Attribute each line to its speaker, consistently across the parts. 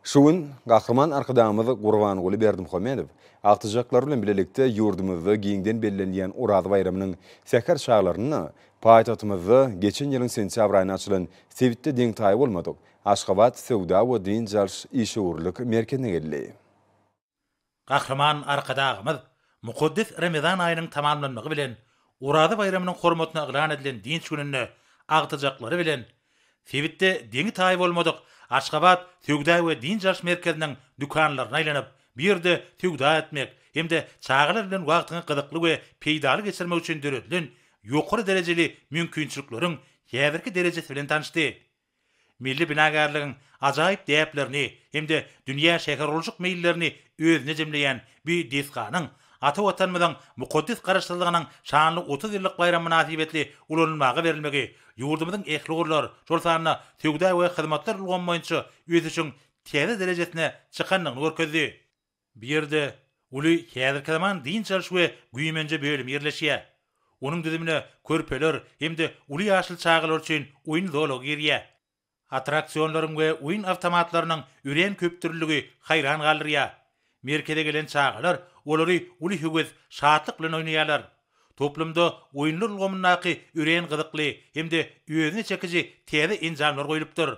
Speaker 1: Şu gün Gahryman Arkadagymyz Gurbanguly Berdimuhamedow agtyjaklar bilen bilelikde ýurdumyzda giňden bellenilýän Oraza baýramynyň säher çaglarynda paýtagtymyzda geçen ýylyň sentýabr aýynda açylan sebitde deň-taýy bolmadyk Aşgabat söwda we dynç alyş işewürlik merkezine geldi. Gahryman Arkadagymyz mukaddes Remezan aýynyň tamamlanmagy bilen Oraza baýramynyň hormatyna yglan edilen dynç gününde agtyjaklary bilen sebitde deňi-taýy bolmadyk Aşgabat söwda we dynç alyş merkeziniň dükanlaryna aýlanyp, bu ýerde söwda etmek hem-de çagalar bilen wagtyňy gyzykly we peýdaly geçirmek üçin döredilen ýokary derejeli mümkinçilikleriň häzirki derejesi bilen tanyşdy. Milli binagärligiň ajaýyp däplerini hem-de dünýä şähergurluşyk meýillerini özüne jemleýän bu desganyň ata Watanymyzyň mukaddes Garaşsyzlygynyň şanly otuz ýyllyk baýramy mynasybetli ulanylmaga berilmegi ýurdumyzyň ähli ugurlar, şol sanda söwda we hyzmatlar ulgamy boýunça ösüşiň täze derejesine çykandygyny görkezdi. Bu ýerde uly häzirki zaman dynç alyş we güýmenje bölümi ýerleşýär. Onuň düzümine körpeler hem-de uly ýaşly çagalar üçin oýun zolagy girýär. Attraksionlaryň we oýun awtomatlarynyň örän köpdürlüligi haýran galdyrýar. Merkeze gelen çagalar olary uly höwes, şatlyk bilen oýnaýarlar. Toplumda oýunlar ulgamyndaky örän gyzykly hem-de özüne çekiji täze enjamlar goýlupdyr.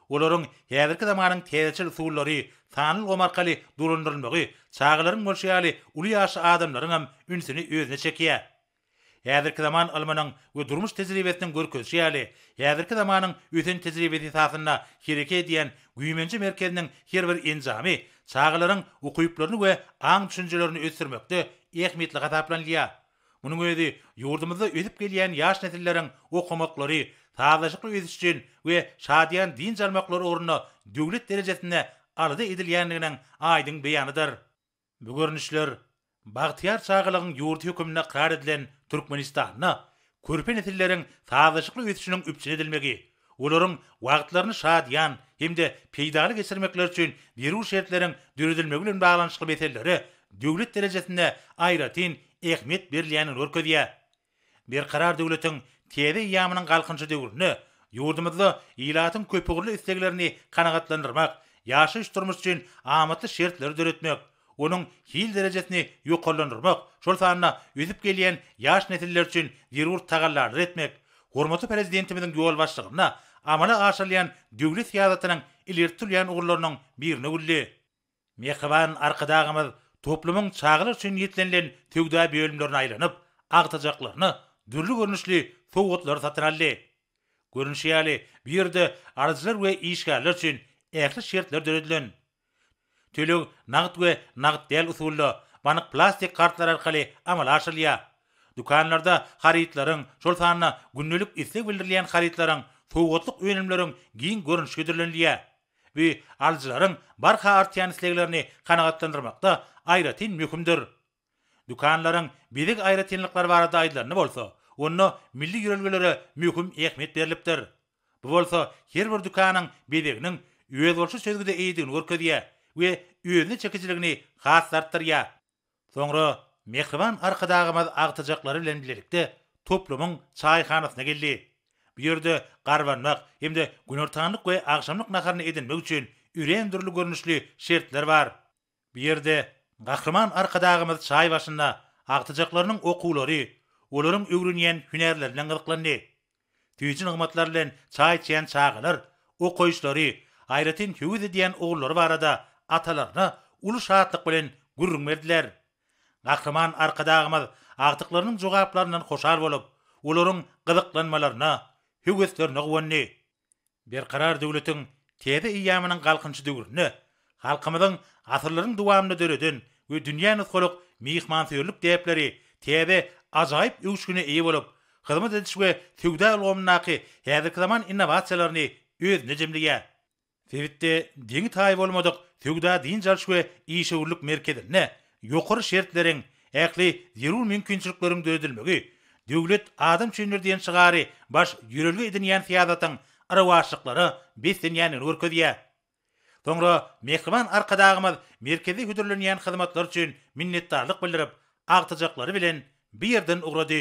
Speaker 1: Olaryň häzirki zamanyň täzeçil usullary, sanly ulgam arkaly dolandyrylmagy çagalaryň bolşy ýaly uly ýaşly adamlaryň hem ünsüni özüne çekýär. Häzirki zaman ylmynyň we durmuş tejribesiniň görkezişi ýaly, häzirki zamanyň ösen tejribesi esasynda hereket edýän güýmenje merkeziniň her bir enjamy çagalaryň ukyplaryny we aň-düşünjelerini ösdürmekde ähmiýetli hasaplanylýar. Munuň özi ýurdumyzda ösüp gelýän ýaş nesilleriň okamaklary, sazlaşykly ösüş üçin we şadyýan dynç almaklary ugrunda döwlet derejesinde alada edilýändiginiň aýdyň beýanydyr. Bu görnüşler Bagtyýar çagalygyň ýurdy hökmünde ykrar edilen Türkmenistanda körpe nesilleriň sazlaşykly ösüşiniň üpjün edilmegi, olaryň wagtlaryny şadyýan hem-de peýdaly geçirmekleri üçin zerur şertleriň döredilmegi bilen baglanyşykly meselelere döwlet derejesinde aýratyn ähmiýet berilýändigini görkezýär. Berkarar döwletiň täze eýýamynyň Galkynyşy döwründe ýurdumyzda ilatyň köpugurly isleglerini kanagatlandyrmak, ýaşaýyş-durmuş üçin amatly şertleri döretmek, onuň hil derejesini ýokarlandyrmak, şol sanda ösüp gelýän ýaş nesiller üçin zerur tagallalary etmek hormatly Prezidentimiziň ýolbaşçylygynda amala aşyrylýan döwlet syýasatynyň ileri tutulýan ugurlarynyň biri nöwüldi. Mähriban Arkadagymyz toplumyň çagalar üçin niýetlenilen söwda bölümlerine aýlanyp, agtajaklaryna dürli görnüşli sowgatlary satyn aldy. Görnüşi ýaly, bu ýerde alyjylar we işgärler üçin ähli şertler döredilen. Töleg nagt we nagt däl usulda, bank plastik kartlary arkaly amala aşyrylýar. Dükanlarda harytlaryň, şol sanda gündelik isleg bildirilýän harytlaryň, sowgatlyk önümleriň giň görnüşi hödürlenilýär. Bu alyjylaryň barha artýan isleglerini kanagatlandyrmakda aýratyn möhümdir. Dükanlaryň bezeg aýratynlyklary barada aýdylanda bolsa, onda milli ýörelgelere möhüm ähmiýet berlipdir. Bu bolsa her bir dükanyň bezeginiň özboluşly çözgüde eýedigini görkezýär we özüne çekijiligini has-da artdyrýar. Soňra mähriban Arkadagymyz agtyjaklary bilen bilelikde toplumyň çaýhanasyna geldi. Bu ýerde garbanmak hem-de günortanlyk we agşamlyk naharyny edinmek üçin örän dürli görnüşli şertler bar. Bu ýerde Gahryman Arkadagymyz çaý başynda agtyjaklarynyň okuwlary, olaryň öwrenýän hünärleri bilen gyzyklandy. Süýji nygmatlar bilen çaý içýän çagalar okaýyşlary, aýratyn höwes edýän ugurlary barada atalaryna uly şatlyk bilen gürrüň berdiler. Gahryman Arkadagymyz agtyklarynyň jogaplaryndan hoşal bolup, olaryň gyzyklanmalaryna, höweslerine guwandy. Berkarar döwletiň täze eýýamynyň Galkynyşy döwründe halkymyzyň asyrlaryň dowamynda döreden we dünýä nusgalyk myhmansöýerlik däpleri täze ajaýyp öwüşgine eýe bolup, hyzmat ediş we söwda ulgamyndaky häzirki zaman innowasiýalaryny özünde jemleýär. Sebitde deňi-taýy bolmadyk söwda-dynç alyş we işewürlik merkezinde Ýokary şertleriň, ähli zerur mümkinçilikleriň döredilmegi, Döwlet adam üçindir diýen şygary baş ýörelge edinýän syýasatyň yrawaçlyklara beslenýändigini görkezýär. Soňra mähriban Arkadagymyz merkeze hödürlenýän hyzmatlar üçin minnetdarlyk bildirip, agtyjaklary bilen bu ýerden ugrady.